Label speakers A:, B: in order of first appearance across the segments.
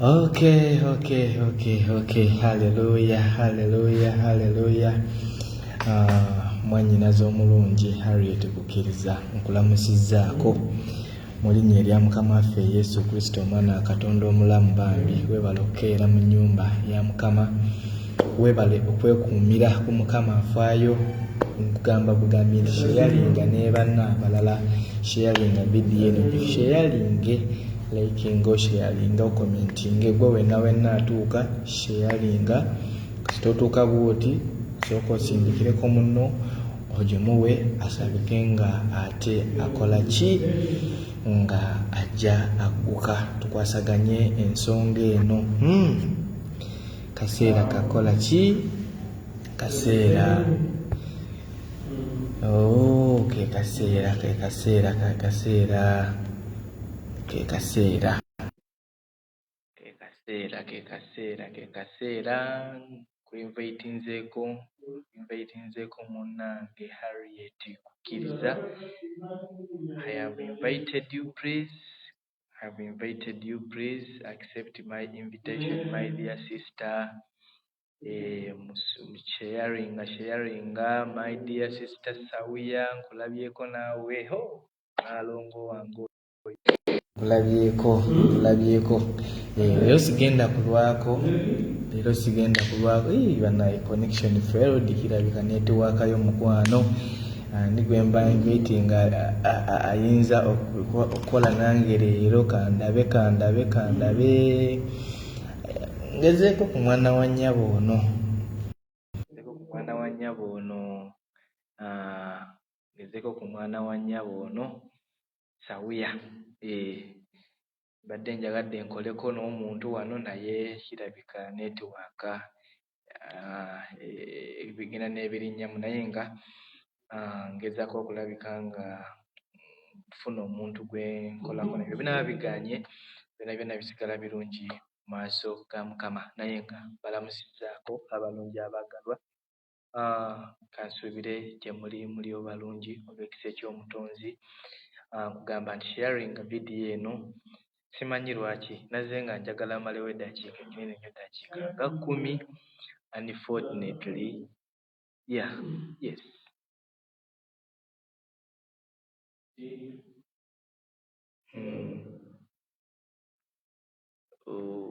A: Okay, okay, okay, okay. Hallelujah, hallelujah, hallelujah. Uh, ah, mwanyinaza omulungi Harriet Kukiriza nkulamusizzaako mu linnya erya Mukama waffe Yesu Kristo omwana wa Katonda omulamu bambi webala okukeera mu nnyumba ya Mukama Webale okwekuumira ku mukama afaayo nkugamba bugambi nti sheyalinga nebanna abalala sheyalinga vidiyo eno sheyalinge likinga osheyalinga okomentinge gwe wenna wenna atuuka sheyalinga kasita otuuka bwoti sooka osindikireko munno ogimuwe asabike nga ate akola ki nga ajja agguka tukwasaganye ensonga eno hmm. Kaseera kakola ki? Kaseera. Oh, ke kaseera, ke kaseera, ke kaseera, ke kaseera. Ke kaseera, ke kaseera, ke kaseera. Kuinvitinzeeko, kuinvitinzeeko munnange Harriet Kukiriza. I have invited you please. I have invited you please accept my invitation my dear sister eh, sharinga sharinga my dear sister sawiya nkulabyeko naawe ho naalongo wange nkulabyeko nkulabyeko eh, leero sigenda kulwako leero sigenda kulwako banaye connection failed kirabika netiwaakayo mukwano ani gwe mba mitinga ayinza okukola nange leero kandabe kandabe kandabe ngezeeko ku mwana wa nnyabo ono ngezeeko ku mwana wa nnyabo ono ah, ngezeeko ku mwana wa nnyabo ono sawuya eh, Mbadde njagadde nkoleko n'omuntu wano naye kirabika netiwaaka bigenda n'ebirinnyamu naye nga ngezaako okulabika nga nfuna omuntu gwe nkolako nabyo binaba biganye byona byona bisigala birungi mu maaso ga Mukama naye nga mbalamusizaako abalungi abaagalwa. kansuubire gye muli muli obalungi olw'ekisa eky'omutonzi nkugamba nti sharing vidiyo eno simanyi lwaki nazze nga njagala malewo eddakiika enyinene nyo eddakiika nga kkumi unfortunately ya yes hmm. oh,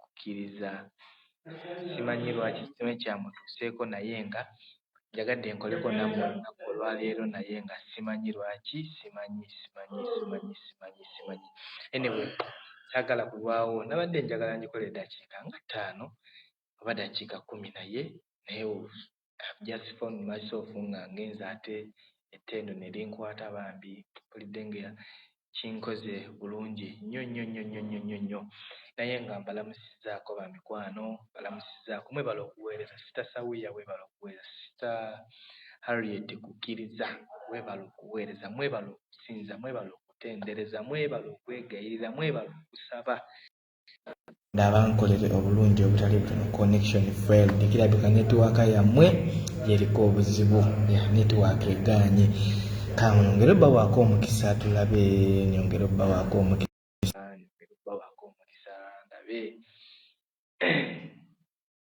A: kukkiriza. Simanyi lwaki kino kyamutuuseeko naye nga njagadde nkoleko nammwe olunaku olwaleero naye nga simanyi lwaki simanyi simanyi simanyi simanyi simanyi anyway saagala kulwawo nabadde njagala ngikole eddakiika nga ttaano oba dakiika kkumi naye naye I've just found myself nga ngenze ate ettendo ne linkwata bambi mpulidde nga kinkoze bulungi nnyo nnyo nnyo nnyo nnyo nnyo nnyo naye nga mbalamusizzaako bamikwano mbalamusizzaako mwebala okuweereza sita sawiya weebala okuweereza sita harriet kukkiriza weebala okuweereza mwebala okusinza mwebala okutendereza mwebala okwegayirira mwebala okusaba abankolere obulungi obutali butono connection failed kirabika netiwaaka yammwe yeriko obuzibu ya netiwaaka egaanye kamwongere obawaako omukisa tulabe nyongere obawaako omukisa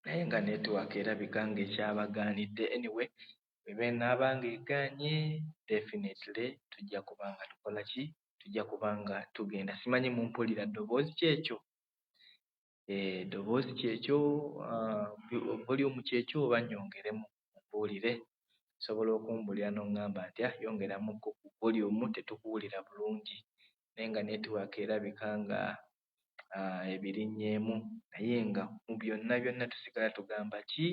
A: naye nga netiwaaka erabika nga ekyabagaanidde anyway ebenaaba nga egaanye definitely tujja kuba nga tukola ki tujja kuba nga tugenda simanyi mumpulira ddoboozi kyekyo eh, ddoboozi kyekyo ah, voliyumu kyekyo oba nyongeremu mumbuulire osobola okumbulira noŋŋamba nti ah yongeramu ku voliyumu tetukuwulira bulungi naye nga netiwaaka erabika nga ah, ebirinnyeemu naye nga mu byonna byonna tusigala tugamba ki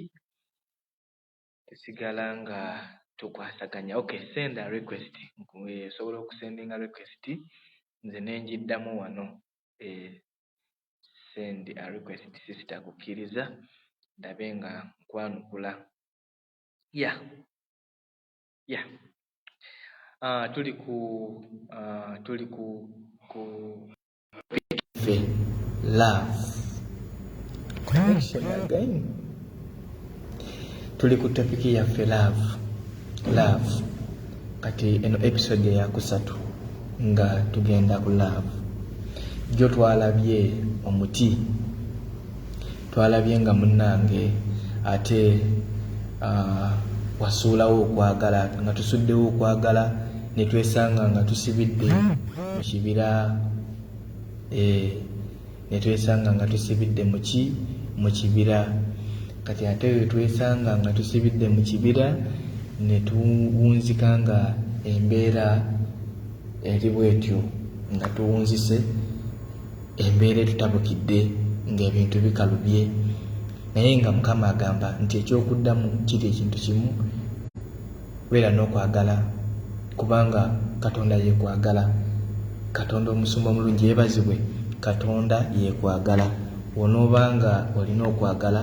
A: tusigala nga tukwasaganya okay senda request nsobola okusendinga request nze nenjiddamu wano eh, send a request sister kukkiriza ndabe nga nkwanukula ya yeah. ya yeah. uh, tuli ku uh, tuli ku ku tuli ku topiki yaffe love love kati eno episode eyakusatu nga tugenda ku love jo twalabye omuti twalabye nga munnange ate uh, wasuulawo okwagala nga tusuddewo okwagala ne twesanga nga tusibidde mu kibira eh, ne twesanga nga tusibidde muki mu kibira kati ate we twesanga nga tusibidde mu kibira ne tuwunzika nga embeera eri bwetyo nga tuwunzise Embeera etutabukidde ng'ebintu bikalubye naye nga Mukama agamba nti eky'okuddamu kiri ekintu kimu, beera n'okwagala kubanga Katonda yeekwagala. Katonda omusumba omulungi yeebazibwe, Katonda yeekwagala. W'onooba nga olina okwagala.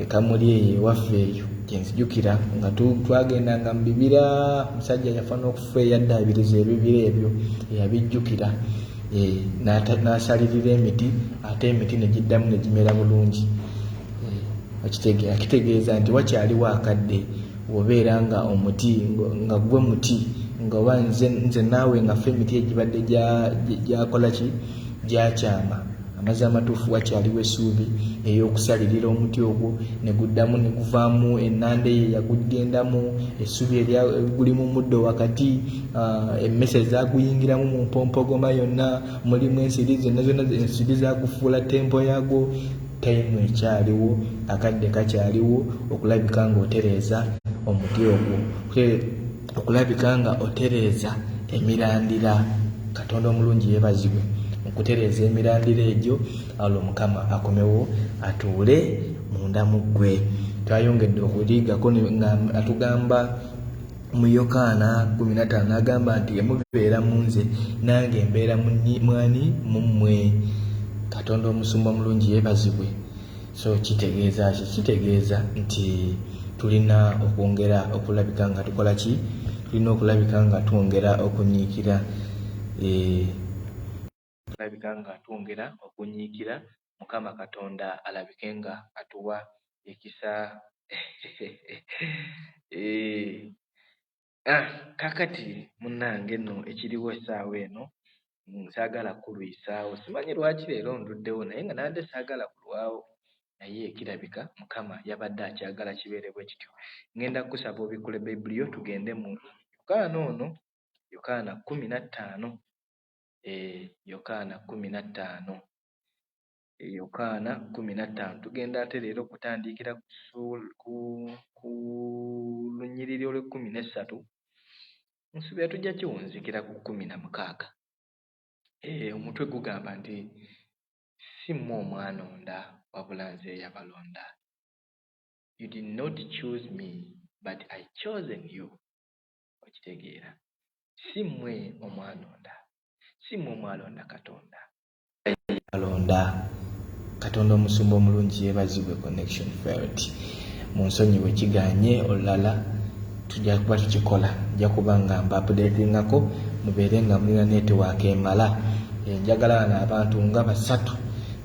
A: Ekamuli eyo ewaffe eyo gyenzijukira nga twagendanga mu bibira musajja yafa n'okufa eyaddaabiriza ebibira ebyo eyabijjukira eh, n'asalirira emiti ate emiti ne giddamu ne gimera bulungi eh, akitegeeza nti wakyaliwo akadde wobeera nga omuti nga gwe muti nga oba nze naawe ngafe emiti egibadde gyakola ki gyakyama Amazzi amatuufu wakyaliwo essuubi ey'okusalirira omuti ogwo ne guddamu ne guvaamu ennanda eyo eyaguggendamu, essubi eryaguli mu muddo wakati, ah, emmese ezaaguyingiramu mu mpompogoma yonna, mulimu ensiri zonna zonna ensiri zaagufuula tempo yaagwo. Tayimu ekyaliwo, akadde kakyaliwo okulabika ng'otereeza omuti ogwo. okulabika nga otereeza emirandira katonda omulungi yebazibwe okutereeza emirandira egyo alwo mukama akomewo atuule munda mu ggwe twayongedde okuliigako nga atugamba mu yokaana 15 agamba nti emubeera mu nze nange mbeera mwani mu mmwe katonda omusumba omulungi yebazibwe so kitegeeza ki kitegeeza nti tulina okwongera okulabika nga tukola ki tulina okulabika nga twongera okunyiikira eh, tulabika nga twongera okunyiikira mukama katonda alabike nga atuwa ekisa eh, Ah, kakati munange no ekiriwo esaawa eno mm, saagala kulwisaawo simanyi lwaki leero nduddewo naye nga nabadde saagala kulwawo naye kirabika mukama yabadde akyagala kibeere bwe kityo ngenda kukusaba obikkule bayibuli yo tugende mu yokaana ono yokaana kumi na ttaano e yokaana kumi na ttaano Yokaana kkumi na ttaano. Tugenda ate leero okutandiikira ku ssuula- ku, ku lunyiriri olw'ekkumi n'essatu. Nsuubira tujja kiwunzikira ku kkumi na mukaaga. Eh, omutwe gugamba nti, Si mmwe omwanonda, wabula Nze eyabalonda. You did not choose me, but I chosen you. Okitegeera? Si mmwe omwanonda. Si mmwe omwalonda Katonda. alonda katonda omusumba omulungi yebazibwe connection felt munsonyiwe kiganye olulala tujja kuba tukikola nja kuba nga mbapudetingako mubeere nga mulina netiwaaka emala eh, njagala bano abantu nga basatu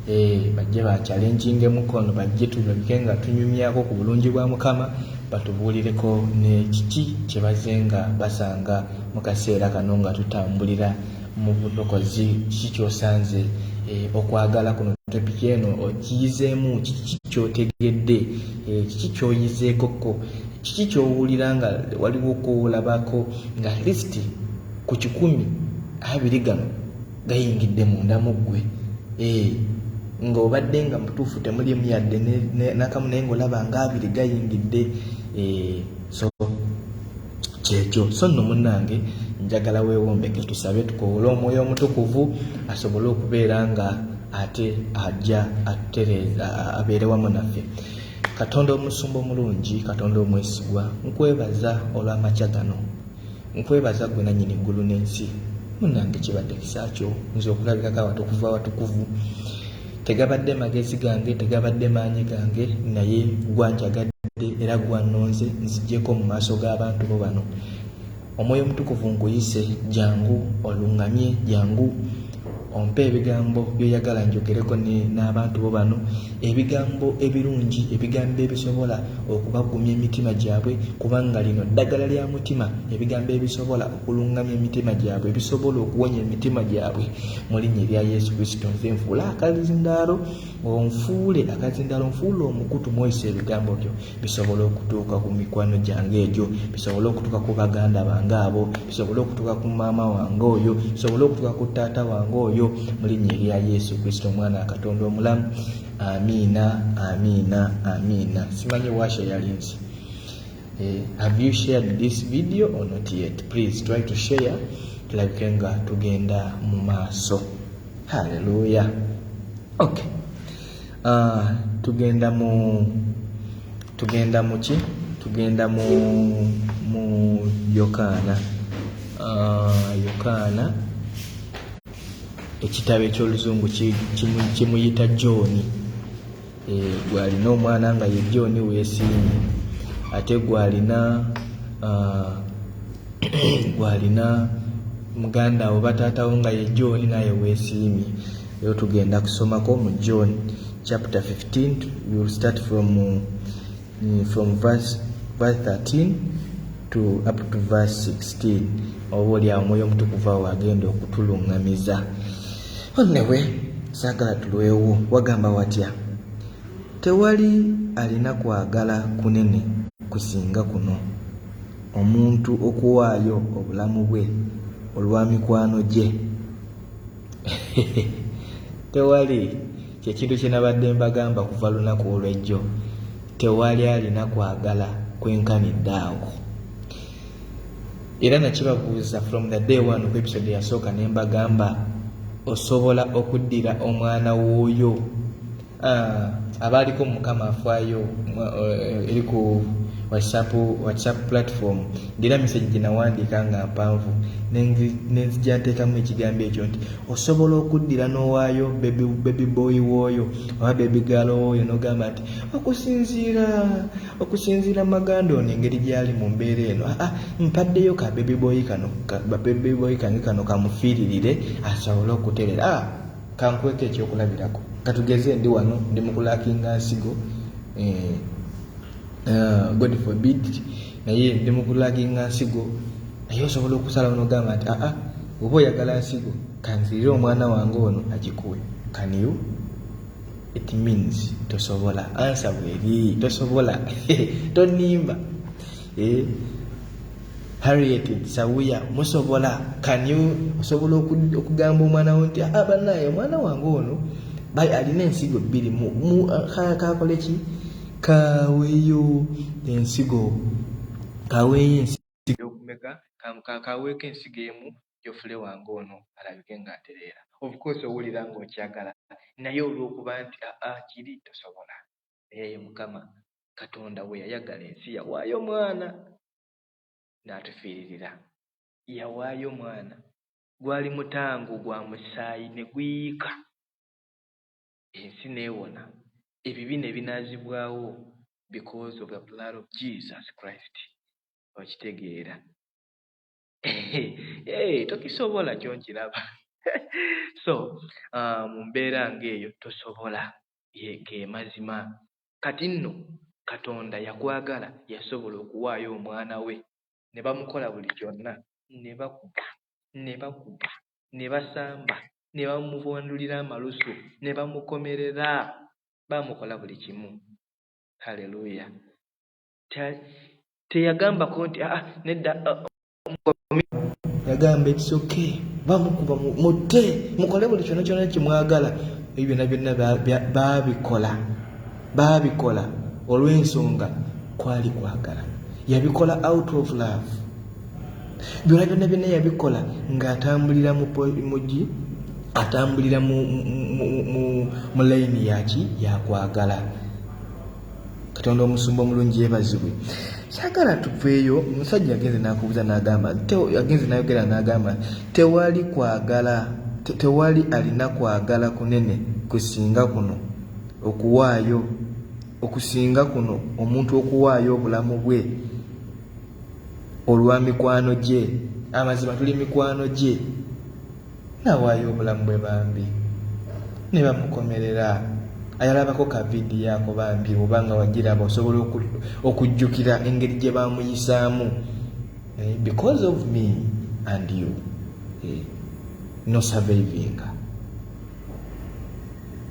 A: eh, bajje bakyalenjinga emukono bajje tulabike nga tunyumyako ku bulungi bwa mukama batubuulireko nekiki kyebaze nga basanga mu kaseera kano nga tutambulira Mu bulokozi kiki ky'osanze? E, okwagala kuno topiki eno okiyizeemu kiki ky'otegedde? E, kiki ky'oyizeekokko? Kiki ky'owulira nga waliwo kw'olabako nga lisiti ku kikumi abiri gano gayingidde munda mu ggwe? E, ng'obadde nga mutuufu temulimu yadde nakamu naye ng'olaba ng'abiri gayingidde. E, so kyekyo so nno munnange njagala weewombeke tusabe tukowole omwoyo omutukuvu asobole okubeera nga ate ajja atutereeza abeere wamu naffe katonda omusumba omulungi katonda omwesigwa nkwebaza olw'amakya gano nkwebaza gwe nannyini ggulu n'ensi munnange kibadde kisakyo nze okulabirako awatukuvu awatukuvu Tegabadde magezi gange, tegabadde maanyi gange, naye gwa njagadde era gwa nnonze nzigyeko mu maaso g'abantu bo bano. Omwoyo omutukuvu nkuyise, jangu oluŋŋamye, jangu ompe ebigambo by'oyagala njogereko n'abantu bo bano, ebigambo ebirungi, ebigambo ebisobola okubagumya emitima gyabwe, kubanga lino ddagala lya mutima, ebigambo ebisobola okuluŋŋamya emitima gyabwe, ebisobola okuwonya emitima gyabwe. mu linnya erya yesu kristo nze nfuule akazindaalo onfuule akazindaalo nfuule omukutu mwoyisa ebigambo byo bisobole okutuuka ku mikwano gyange egyo bisobole okutuuka ku baganda bange abo bisobole okutuuka ku maama wange oyo bisobole okutuuka ku taata wange oyo mu linnya erya yesu kristo omwana akatonda omulamu amiina amiina amiina simanyi washa yalinzi Eh, have you shared this video or not yet please try to share tulabike nga tugenda mu maaso halleluya ok uh, tugenda mu tugenda muki tugenda mu mu yokaana uh, yokaana ekitabo eky'oluzungu kimuyita johni eh, gwalina omwana nga ye john wesiimye ate gwalina ah, gwalina muganda wo bataatawo nga ye john naye wesiimye ero tugenda kusomako mu john chapter 15 will start from, mm, from verse, verse 13 to up to verse 16 oba oli awo mwoyo omutukuvu awo agenda okutuluŋŋamiza onewe saagala tulwewo wagamba watya tewali alina kwagala kunene kusinga kuno omuntu okuwaayo obulamu bwe olwa mikwano gye tewali kyekintu kyenabadde mbagamba kuva lunaku olwejjo tewali alina kwagala kwenkanidde awo era nakibabuuza from the day one ku episode yasooka ne mbagamba osobola okuddira omwana wooyo ah, abaaliko mukama afaayo eh, eri ku whatsapp whatsapp platform ngera message gye nawandiika nga mpanvu nenzija nteekamu ekigambo ekyo nti osobola okuddira n'owaayo bebi boyi wooyo oba bebi gaalo wooyo n'ogamba nti okusinziira okusinziira maganda ono engeri gyali mu mbeera eno aa mpaddeyo ka baby boy kano baby boy kange kano kamufiiririre asobole okuterera a kankweka ekyokulabirako katugeze ndi wano ndi mukulakinga nsigo eh, eh, god forbid naye ndi mukulakinga nsigo naye osobola okusala onogamba nti aa oba oyagala nsigo kanzirire omwana wange ono agikuwe kaniyo it means tosobola ansa bweri tosobola tonimba eh? harriet sawuya musobola kany osobola okugamba omwana wo nti ah, banaye omwana wange ono alina ensigo bbiri kakole ki kaweyo ensigo kaweyo ensigo kaweeko ensigo emu Jofule wange ono alabike nga atereera. Of course owulira ng'okyagala naye olw'okuba nti aa ah, kiri tosobola. Naye ye Mukama Katonda bwe yayagala ensi yawaayo mwana n'atufiiririra. Yawaayo mwana gwali mutango gwa musaayi ne guyiika ensi n'ewona ebibi ne binaazibwawo because of the blood of Jesus Christ. Okitegeera? Hey, tokisobola kyo nkiraba so uh, mu mbeera ng'eyo tosobola ge mazima kati nno katonda yakwagala yasobola okuwaayo omwana we ne bamukola buli kyonna ne bakuba ne bakuba ne basamba ne bamubwandulira amalusu ne bamukomerera bamukola buli kimu haleluya teyagambako nti ah, ah, nedda ah, yagamba it's okay bamukuba mutte mukole buli kyona kyona kyemwagala ebyo byona byonna babikola babikola olw'ensonga kwali kwagala yabikola out of love byona byonna byonna yabikola ng'atambulira mugi atambulira mu layini yaki yakwagala katonda omusumba omulungi yebazibwe sagala tuveeyo omusajja agenze nakubuza nagamba agenze nayogera nagamba tewali kwagala tewali alina kwagala kunene kusinga kuno okuwaayo okusinga kuno omuntu okuwaayo obulamu bwe olwa mikwano gye amazima tuli mikwano gye Nawaayo obulamu bwe bambi nebamukomerera ayalabako ka video ako bambi oba nga wagiraba osobola okujjukira engeri gye bamuyisaamu eh, because of me and you eh, no survivinga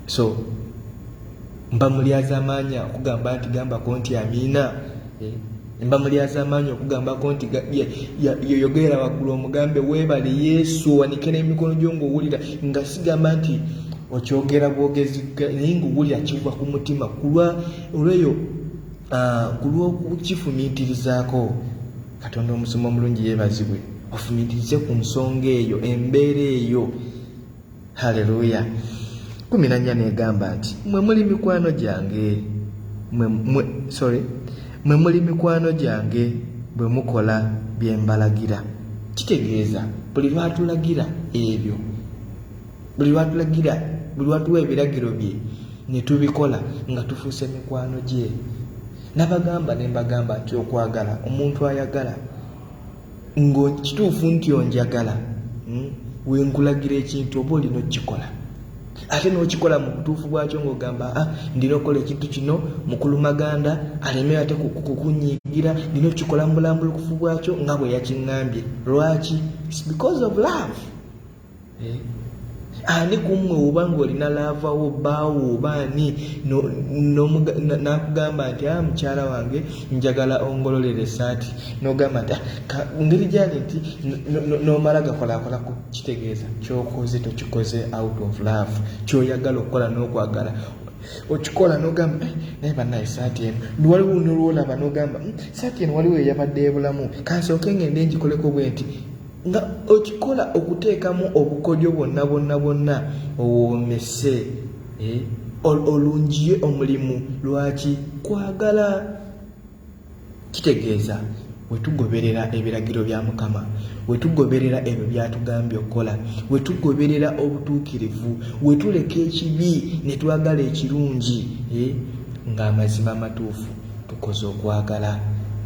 A: so mba mulyazamaanyi okugamba nti gambako nti amiina eh, mba mulyazamaanyi okugambako nti yoyogerera waggulu omugambe weebale yesu owanike n'emikono gyo ngaowulira nga sigamba nti okyogera bwogezi naye ngaowulira kiva ku mutima kulwa olweyo ah, ku lw'okukifumiitirizaako katonda omusoma omulungi yeebazibwe ofumiitirize ku nsonga eyo embeera eyo haleluya kumi na nnya negamba nti mwe muli mikwano gyange sorry mwe muli mikwano gyange bwe mukola bye mbalagira kitegeeza buli lwatulagira ebyo buli lwatulagira buli lwatuwa ebiragiro bye ne tubikola nga tufuuse mikwano gye nabagamba ne mbagamba nti okwagala omuntu ayagala ngo kituufu nti onjagala hmm? wenkulagira ekintu oba olina okukikola ate nokikola mu butuufu bwakyo ngaogamba a ah, ndina okukola ekintu kino mukulu maganda aleme ate kukunyigira ndina okukikola mu bulambulukufu bwakyo nga bwe yakiŋambye lwaki because of love eh, ani kummwe oba ng'olina laavawo baawo oba ani n'akugamba nti a ah, mukyala wange njagala ongololera esaati n'ogamba nti ah, ngeri gyali nti n'omala gakolakolako kitegeeza kyokoze tokikoze out of love kyoyagala okukola n'okwagala okikola nogamba eh, naye banaye saati eno waliwo nolwolaba nogamba hmm, saati eno waliwo eyabadde ebulamu kansooke ngende ngikoleko bwe nti nga okikola okuteekamu obukodyo bwonna bwonna bwonna owoomese eh, olungiye omulimu lwaki kwagala kitegeeza wetugoberera ebiragiro bya mukama wetugoberera ebyo byatugambye okukola wetugoberera obutuukirivu wetuleka ekibi netwagala ekirungi eh, ng'amazima amatuufu tukoze okwagala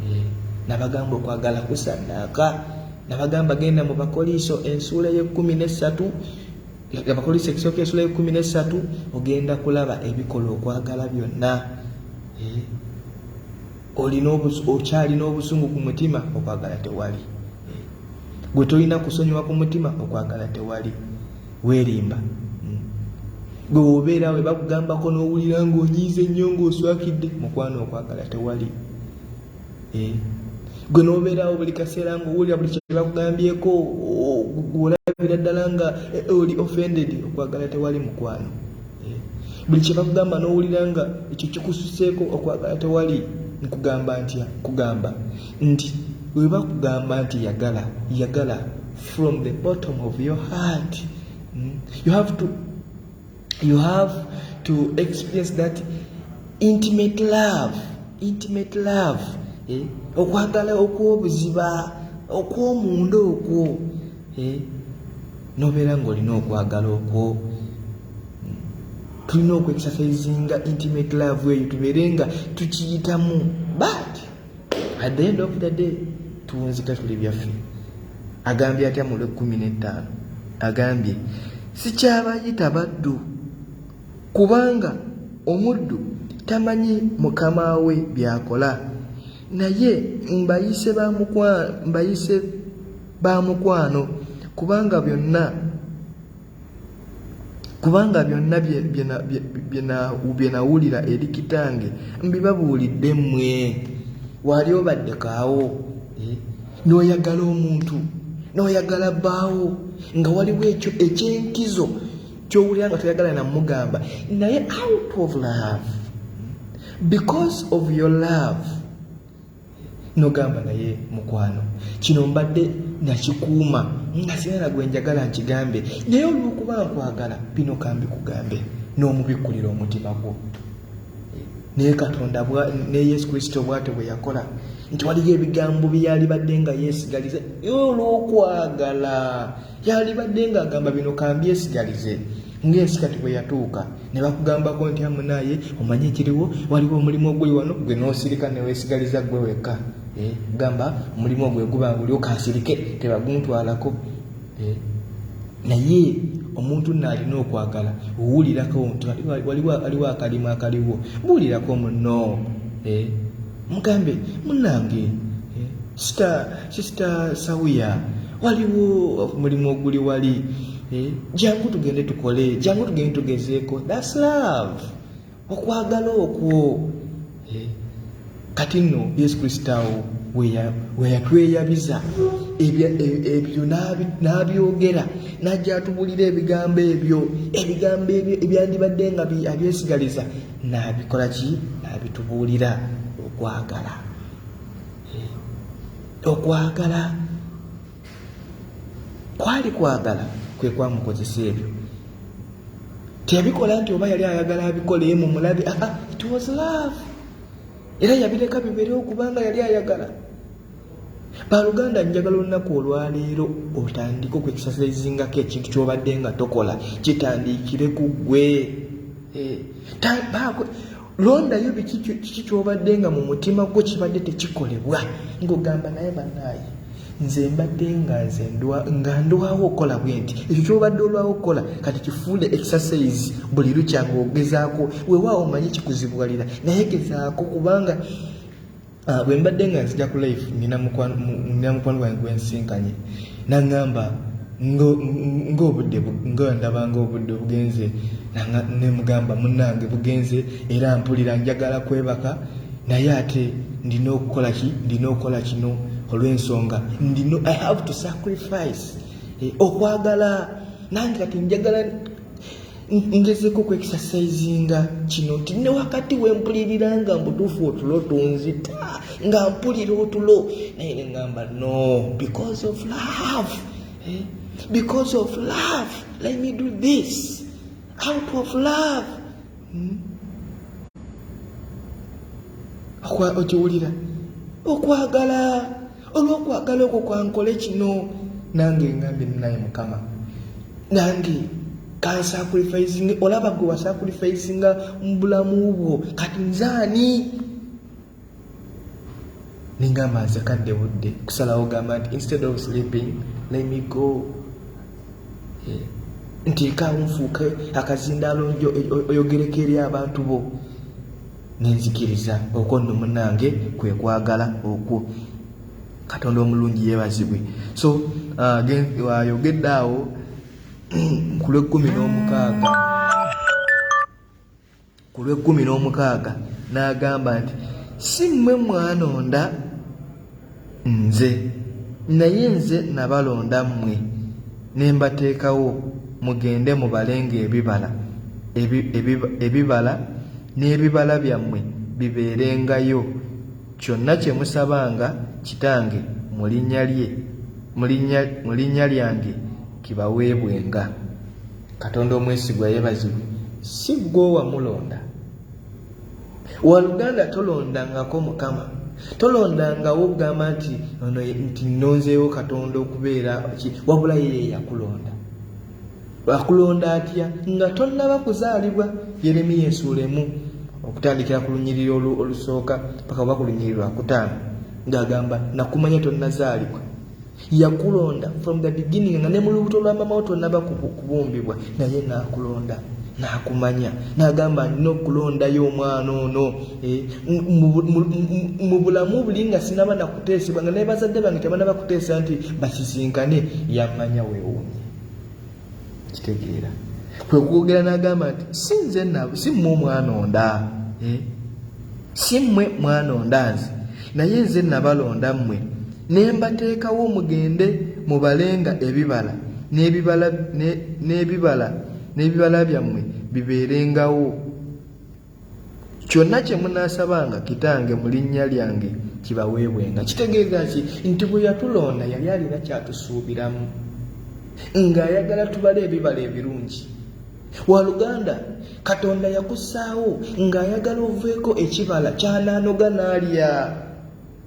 A: eh, nabagamba okwagala kusannaaka nabagamba genda mu bakoliiso ensuula ey'ekkumi n'essatu abakoliiso ekisooka ensuula y'ekkumi n'essatu ogenda kulaba ebikola okwagala byonna eh? olina okyalina obusungu ku mutima okwagala tewali eh? gwe tolina kusonyiwa ku mutima okwagala tewali weerimba hmm. gwe wobeera we bakugambako n'owulira ng'onyiize nnyo ng'oswakidde mukwano okwagala tewali eh, gwe nobeerawo buli kaseera nga owulira buli kyebakugambyeko olabira ddala nga eh, oli offended okwagala tewali mukwano eh, buli kyebakugamba nowulira nga ekyo kikususeeko okwagala tewali nkugamba ntya nkugamba nti webakugamba nti yagala yagala from the bottom of your heart hmm? you have to you have to experience that intimate love intimate love eh? okwagala okwobuziba okwomunda okwo eh? nobeera ngaolina okwagala okwo tulina okwexercisinga intimate love eyo tubeere nga tukiyitamu but at the end of the day tuwunzika tuli byaffe agambye atya mu lwekkumi n'ettaano agambye sikyabayita baddu kubanga omuddu tamanyi mukama we byakola naye mbayise ba mukwano kubanga byonna kubanga byonna bye nawulira eri kitange mbibabuulidde mmwe waali obadde kaawo eh? n'oyagala omuntu n'oyagala bbaawo nga waliwo ekyo ekyenkizo kyowulira nga toyagala namugamba naye out of love because of your love nogamba naye mukwano kino mbadde nakikuuma nga sinana gwe njagala nkigambe naye olwokuba nkwagala bino kambi kugambe n'omubikkulira omutima gwo naye katonda ne yesu kristo bwatyo bwe yakola nti waliyo ebigambo byeyalibadde nga yeesigaliza olwokwagala Yalibadde ng'agamba bino kambyesigalize ng'ensi kati bwe yatuuka ne bakugambako nti amunaaye omanyi ekiriwo waliwo omulimu oguli wano gwe n'osirika ne weesigaliza ggwe wekka eh, gamba omulimu ogwe guba nguli okansirike tebaguntwalako eh, naye omuntu naalina okwagala owulirako nti waliwo akalimu akaliwo buulirako muno eh, mugambe munange eh, sita sisita sawuya waliwo omulimu oguli wali eh, jangu tugende tukole jangu tugende tugezeeko thats love okwagala okwo eh, kati nno yesu kristo awo weyatweyabiza e, ebyo n'abyogera n'ajja atubuulira ebigambo ebyo ebigambo ebyo ebyandibadde nga abyesigaliza n'abikola ki n'abitubuulira okwagala eh, okwagala kwali kwagala kwe kwamukozesa ebyo teyabikola nti oba yali ayagala abikole ye mumulabe aa ah, ah, it was love era yabireka biberewo kubanga yali ayagala Baluganda njagala olunaku olwaleero otandike okwekisasizingako ekintu kyobadde nga tokola kitandikire ku gwe eh, londayo bikiki kyobadde nga mu mutima gwo kibadde tekikolebwa ngaogamba naye banaaye nze mbadde nga nze nga ndwawo okukola bwe nti ekyo kyobadde olwawo okukola kati kifuule exercise buli lukya ngaogezaako wewaawo omanye kikuzibuwalira naye gezaako kubanga Ah, bwe mbadde nga nzija ku life nina mukwano gwange gwensinkanye naŋŋamba ng'obudde nga ndaba ng'obudde obugenze ne mugamba munnange bugenze era mpulira njagala kwebaka naye ate ndina okukola ki ndina okukola kino olw'ensonga ndino i have to sacrifice eh, okwagala nange kati njagala ngezeko ku exercisinga kino nti ne wakati wempulirira nga mbutuufu otulo tunzita nga mpulira otulo naye neŋamba no because of love eh? because of love let me do this out of love hmm? okiwulira okwagala olwokwagala okwo kwankole kino nange ngambye naye mukama nange kansakurifisinga olaba gwe wasakurifisinga mubulamu bwo kati nzaani nengamba nze kadde budde kusalawo gamba nti instead of sleeping let me go eh, nti nkawo nfuuke akazindaalo oyogereko eri abantu bo nenzikiriza okwo nno munange kwe kwagala okwo katonda omulungi yebazibwe so uh, ayogedde uh, awo ku lwekkumi n'omukaaga ku lwekkumi n'omukaaga n'agamba nti si mmwe mwanonda Nze. Naye nze nabalonda mmwe ne mbateekawo mugende mubalenga ebibala, ebibala n'ebibala byammwe bibeerengayo, kyonna kye musabanga Kitange mu linnya lye, mu linnya lyange kibaweebwenga. Katonda omwesigwa yeebazibwe, si ggwe owamulonda. waluganda tolondangako mukama tolondangawo okugamba nti ono nti nonzeewo katonda okubeera ki wabula yeye yakulonda akulonda atya nga tonnaba kuzaalibwa yeremiya ensuulemu okutandikira ku lunyiriri olusooka paka oba ku lunyiriri lwakutaano ng'agamba nakumanya tonnazaalibwa yakulonda from the beginning nga ne mu lubuto lwa mama wo tonaba kubumbibwa naye nakulonda nakumanya nagamba nina okulondayo omwana ono eh, mu bulamu buli nga sinaba nakuteesebwa nga naye bazadde bange tebanaba kuteesa nti basisinkane yamanya wewunya kitegeera kwe kwogera n'agamba nti si nze nabo si mmwe omwanonda eh? si mmwe mwanonda nze naye nze nabalonda mmwe ne mbateekawo mugende mubalenga ebibala n'ebibala n'ebibala byammwe bibeerengawo kyonna kye munaasabanga kitange mu linnya lyange kibaweebwenga kitegeeza ki nti bwe yatulonda yali alina kyatusuubiramu ng'ayagala tubale ebibala ebirungi waluganda katonda yakussaawo ng'ayagala oveeko ekibala kyanaanoga n'alya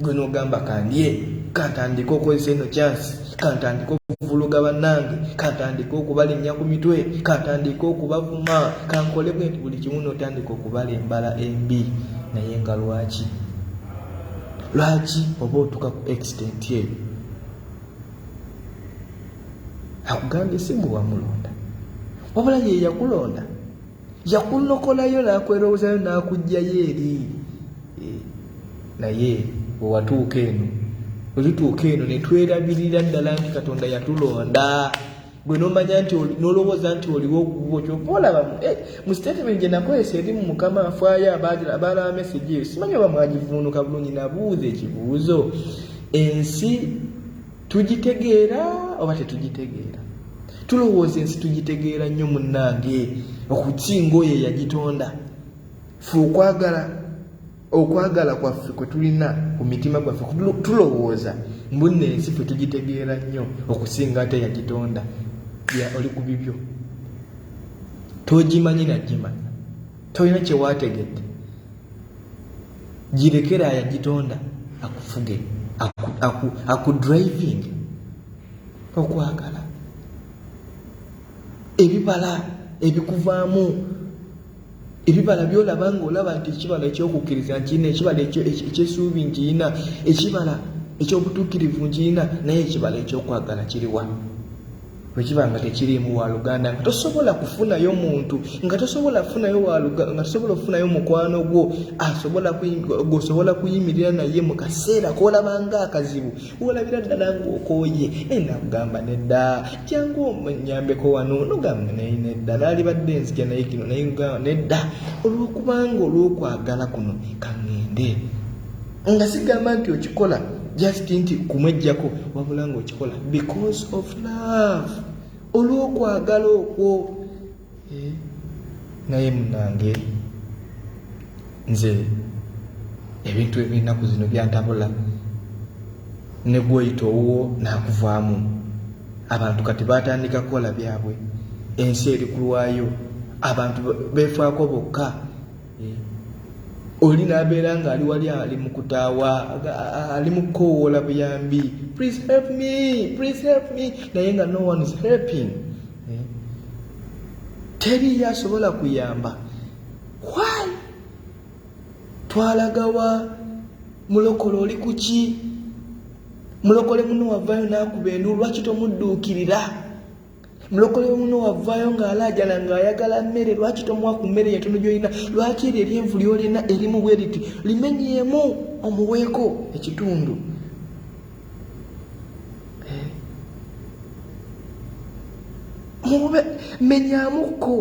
A: gwe nogamba kandye kantandika okozesa eno kyansi kantandika okuvuluga bannange kantandika okubalinnya ku mitwe kantandika okubavuma kankole bwe nti buli kimu notandika okubala embala embi naye nga lwaki lwaki oba otuka ku extent eyo akugambye si gwe wamulonda wabula yeyakulonda yakulokolayo n'akwerowoozayo n'akuggyayo eri eh, naye bwe watuuka eno bwe tutuuka eno ne twerabirira ddala nti katonda yatulonda gwe nomanya nti nolowooza nti oliwo ogubwo kyova olaba eh, mu statement gye nakozesa eri mu mukama afaayo abaalaba mesegi eyo simanyi oba mwagivuunuka bulungi nabuuza ekibuuzo ensi tugitegeera oba tetugitegeera tulowooza ensi tugitegeera nnyo munnange okukinga oyo eyagitonda fe okwagala okwagala kwaffe kwe tulina ku mitima gwaffe tulowooza mbunna ensi fe tugitegeera nnyo okusinga ate yagitonda ya oli ku bibyo togimanyi nagimanya tolina kyewaategedde girekera ayagitonda akufuge akudriving okwagala ebibala ebikuvaamu ebibala byolaba nga olaba nti ekibala ekyokukkiriza nkirina ekibala ekyesuubi nkirina ekibala ekyobutuukirivu nkirina naye ekibala ekyokwagala kiriwa bwe kiba nga tekiriimu waaluganda nga tosobola kufunayo muntu nga tosobola kufunayo nga tosobola okufunayo mukwano gwo asobola gwosobola kuyimirira naye mu kaseera koolaba nga akazibu wolabira ddala ngaokooye naye nakugamba nedda jangu onyambeko wano nogamba naye nedda naalibadde nzija naye kino naye nedda olwokubanga olwokwagala kuno kaŋŋende nga sigamba nti okikola just nti kumwejjako wabula nga okikola because of love olwokwagala okwo eh, naye munange nze ebintu ebyenaku zino byantabula negwoyita owuwo nakuvaamu abantu kati batandika kukola byabwe ensi eri kulwayo abantu befaako bokka oli nabeera nga ali wali ali mukutaawa ali mukukowoola buyambi please help me please help me naye nga no one is helping eh? teriyo asobola kuyamba why twalagawa mulokole oli kuki mulokole muno wavayo nakuba endu lwaki tomudduukirira mulokole muno wavaayo ng'alaajala ng'ayagala mmere lwaki tomuwa ku mmere yentono gyolina lwaki eryo eryenvu lyolina erimu bwe riti limenyeemu omuweeko ekitundu eh. mube menyamukko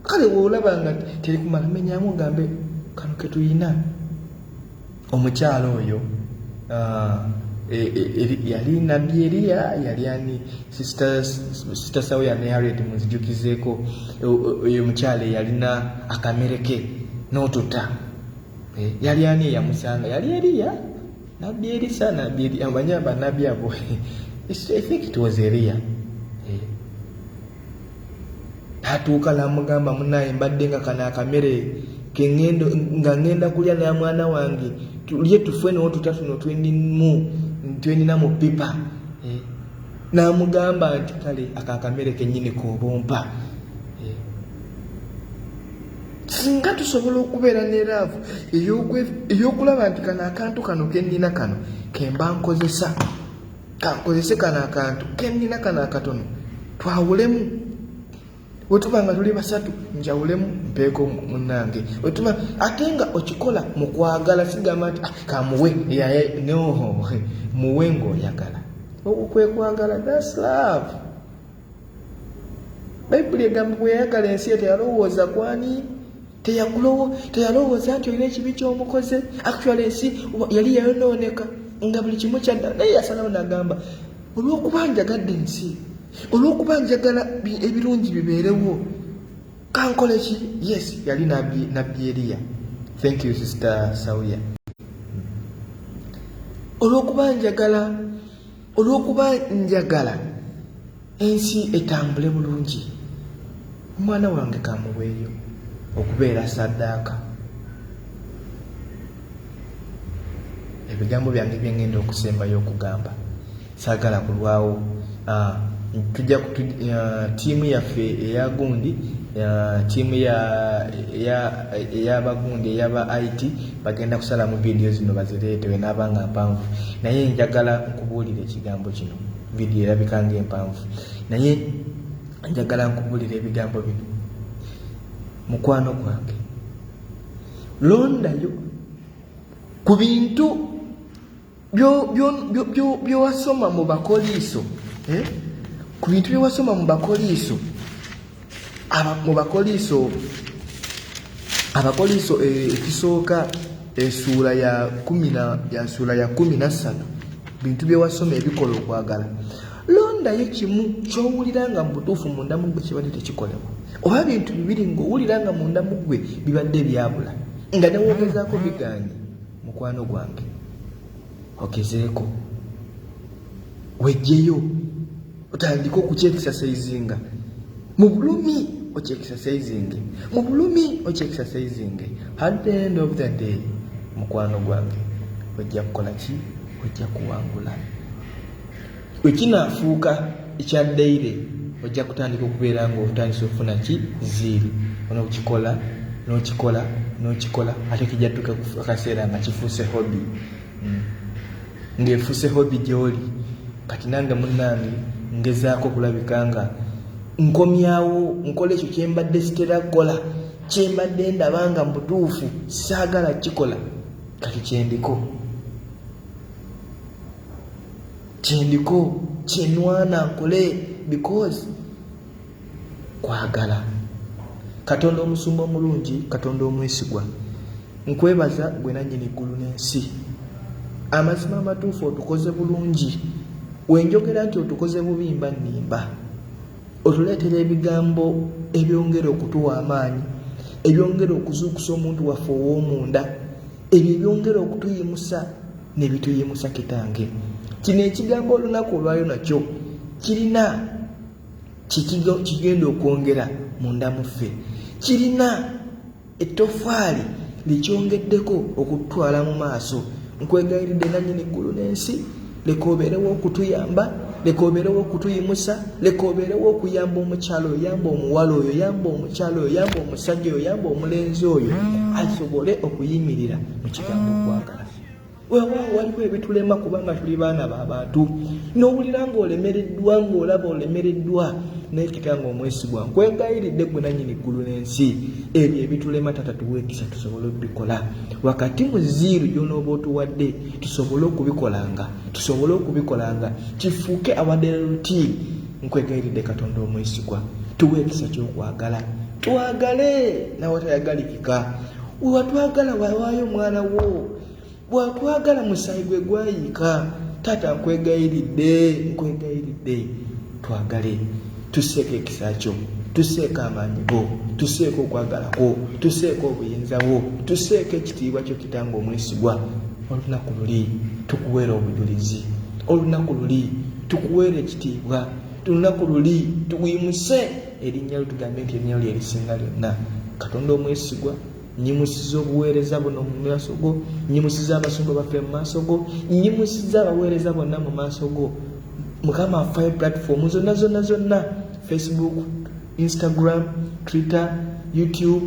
A: kale weolaba nga terikumala menyamu gambe kano ketuyina omukyala oyo uh, e, e, e, yali nabbi eriya yali ani sita sawo ya nayared muzijukizeeko oyo omukyala eyalina akamere ke n'otuta eh, yali ani eyamusanga yali eriya nabbi erisa nabbi eriya amanya banabbi abo i think it was eriya natuuka namugamba munaye mbadde nga kano akamere nga ngenda kulya na mwana wange tulye tufwe nawo tutatuno twenimu twenina mu pipa eh, namugamba nti kale ako akamere kenyini kobompa eh, singa tusobola okubeera ne laavu eyokulaba nti kano akantu kano kenina kano kemba nkozesa kankozese kano akantu kennina kano akatono twawulemu wetuba nga tuli basatu njawulemu mpeeko munange wetuba ate nga okikola mukwagala sigamba nti ah, kamuwe yaye noho muwe ngaoyagala okwekwagala das love bayibuli egamba bweyayagala ensi eto yalowooza kwani teyakulowo teyalowooza nti olina ekibi kyomukoze actual ensi yali yayonooneka nga buli kimu kyadda naye yasalawo nagamba olwokuba njagadde ensi olwokuba njagala ebirungi bibeerewo kankole ki yes yali nabbi eriya thank you sister sauya olwokuba njagala olwokuba njagala ensi etambule bulungi omwana wange kamuweeyo okubeera saddaaka ebigambo byange byengenda okusembayo okugamba saagala kulwawo ah, tujja ah, tiimu yaffe eya gundi ah, tiimu eyabagundi eyaba it bagenda kusalamu vidiyo zino bazireetewe n'abanga mpanvu naye njagala nkubuulira ekigambo kino vidiyo erabika ng'empanvu naye njagala nkubulira ebigambo bino mukwano gwange londayo ku bintu byowasoma mu bakoliiso eh? ku bintu byowasoma mu bakoliiso mu bakoliiso abakoliiso eh, ekisooka esuula eh, ya kumina ya suula ya kumi nassatu bintu byewasoma ebikola okwagala londayo kimu kyowulira nga mubutuufu munda mugwe kibadde tekikolebwa oba bintu bibiri ngaowulira nga munda mugwe bibadde ebyabula nga newogezaako biganye mukwano gwange ogezeeko wejjeyo otandika okukyekisasaizinga mu bulumi okyekisasaizinge mu bulumi okyekisasaizinge at the end of the day mukwano gwange ojja kukola ki ojja kuwangula wekinaafuuka ekya daire ojja kutandika okubeera nga otandisa okufuna ki ziiri onokikola nokikola nokikola ate kijja tuka akaseera nga kifuuse hobi ng'efuuse hobi gy'oli kati nange munnange ngezaako okulabika nga nkomyawo nkola ekyo kye mbadde sitera kukola kye mbadde ndaba nga mu butuufu saagala kikola kati kyendiko kyendiko kyenwana nkole because kwagala katonda omusumba omulungi katonda omwesigwa nkwebaza gwe nannyini ggulu n'ensi amazima amatuufu otukoze bulungi wenjogera nti otukoze bubi mba nnimba otuleetera ebigambo ebyongera okutuwa amaanyi ebyongera okuzuukusa omuntu waffe ow'omunda ebyo ebyongera okutuyimusa ne bituyimusa kitange kino ekigambo olunaku olwayo nakyo kirina kigenda okwongera munda muffe kirina ettofaali likyongeddeko okututwala mu maaso nkwegayiridde nannyini eggulu n'ensi leka obeerewo okutuyamba leka obeerewo okutuyimusa leka obeerewo okuyamba omukyalo oyo yamba omuwala oyo yamba omukyalo oyo yamba omusajja oyo yamba omulenzi oyo asobole okuyimirira mu kigambo okwagala wewaawo waliwo ebitulema kubanga tuli baana ba bantu n'owulira ng'olemereddwa ng'olaba olemereddwa naye kitange omwesigwa nkwegayiridde gwe nanyini ggulu n'ensi ebyo ebitulema tata tuweekisa tusobole okubikola wakati mu ziiru gyonooba otuwadde tusobole okubikolanga tusobole okubikolanga kifuuke awadera lutiini nkwegayiridde katonda omwesigwa tuweekisa kyokwagala twagale nawe tayagalirika wewatwagala wawaayo omwana wo bwatwagala musaayi gwe gwayiika taata nkwegayiridde nkwegayiridde twagale tuseeko ekisa kyo tuseeko amaanyi go tuseeko okwagala kwo tuseeko obuyinza bwo tuseeko ekitiibwa kyo kitanga omwesigwa olunaku luli tukuweera obujulizi olunaku luli tukuweera ekitiibwa olunaku luli tuwimuse erinnya lyo tugambe nti erinnya lyo lyerisinga lyonna katonda omwesigwa nnyimusiza obuweereza buno mu maaso go nnyimusiza abasumba baffe mu maaso go nnyimusiza abaweereza bonna mu maaso go mukama afayo platform zonna zonna zonna facebook instagram twitter youtube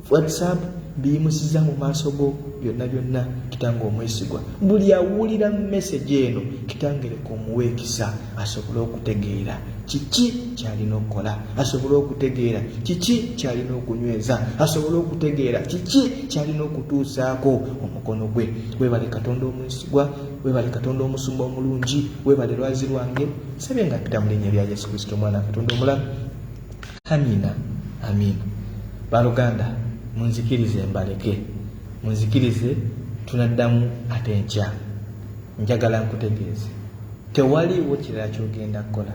A: whatsapp biyimusiza mu maaso go byonna byonna kitange omwesigwa buli awulira message eno kitangereka omuweekisa asobole okutegeera kiki kyalina okukola asobole okutegeera kiki kyalina okunyweza asobole okutegeera kiki kyalina okutuusaako omukono gwe webale katonda omwesigwa webale katonda omusumba omulungi webale lwazi lwange sabye nga pita mulinya lya yesu kristo omwana katonda omulamu amina amina baluganda munzikirize mbaleke munzikirize tunaddamu ate nkya njagala nkutegeeze Tewaliiwo kirala ky'ogenda kukola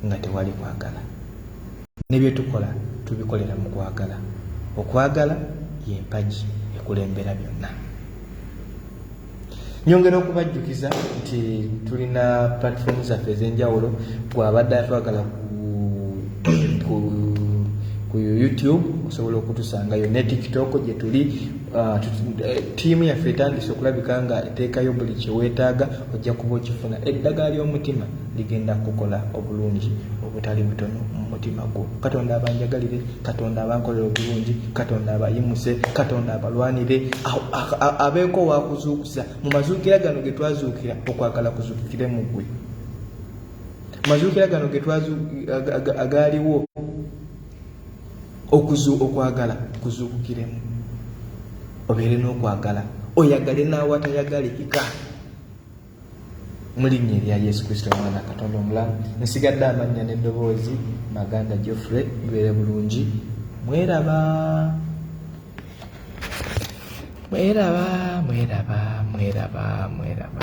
A: nga tewali kwagala. Ne bye tukola tubikolera mu kwagala. Okwagala ye mpagi ekulembera byonna. Nyongera okubajjukiza nti tulina platform zaffe ez'enjawulo gw'abadde atwagala ku ku YouTube osobola okutusangayo ne TikTok gye tuli Ah, eh, tiimu yaffe etandise okulabika nga eteekayo buli kyeweetaaga ojja kuba okifuna eddagala ly'omutima ligenda kukola obulungi obutali butono mu mutima gwo katonda abanjagalire katonda abankolera obulungi katonda abayimuse katonda abalwanire abeeko wakuzuukusa mu mazuukira gano ge twazuukira okwagala kuzuukire mu ggwe mazuukira gano agaaliwo okuzu okwagala kuzuukukiremu obeere n'okwagala oyagale n'awatayagale ika mulinnya erya yesu kristo omwana katonda omulamu nsigadde amannya n'eddoboozi maganda geoffrey bibeere bulungi mweraba mweraba mweraba mweraba mweraba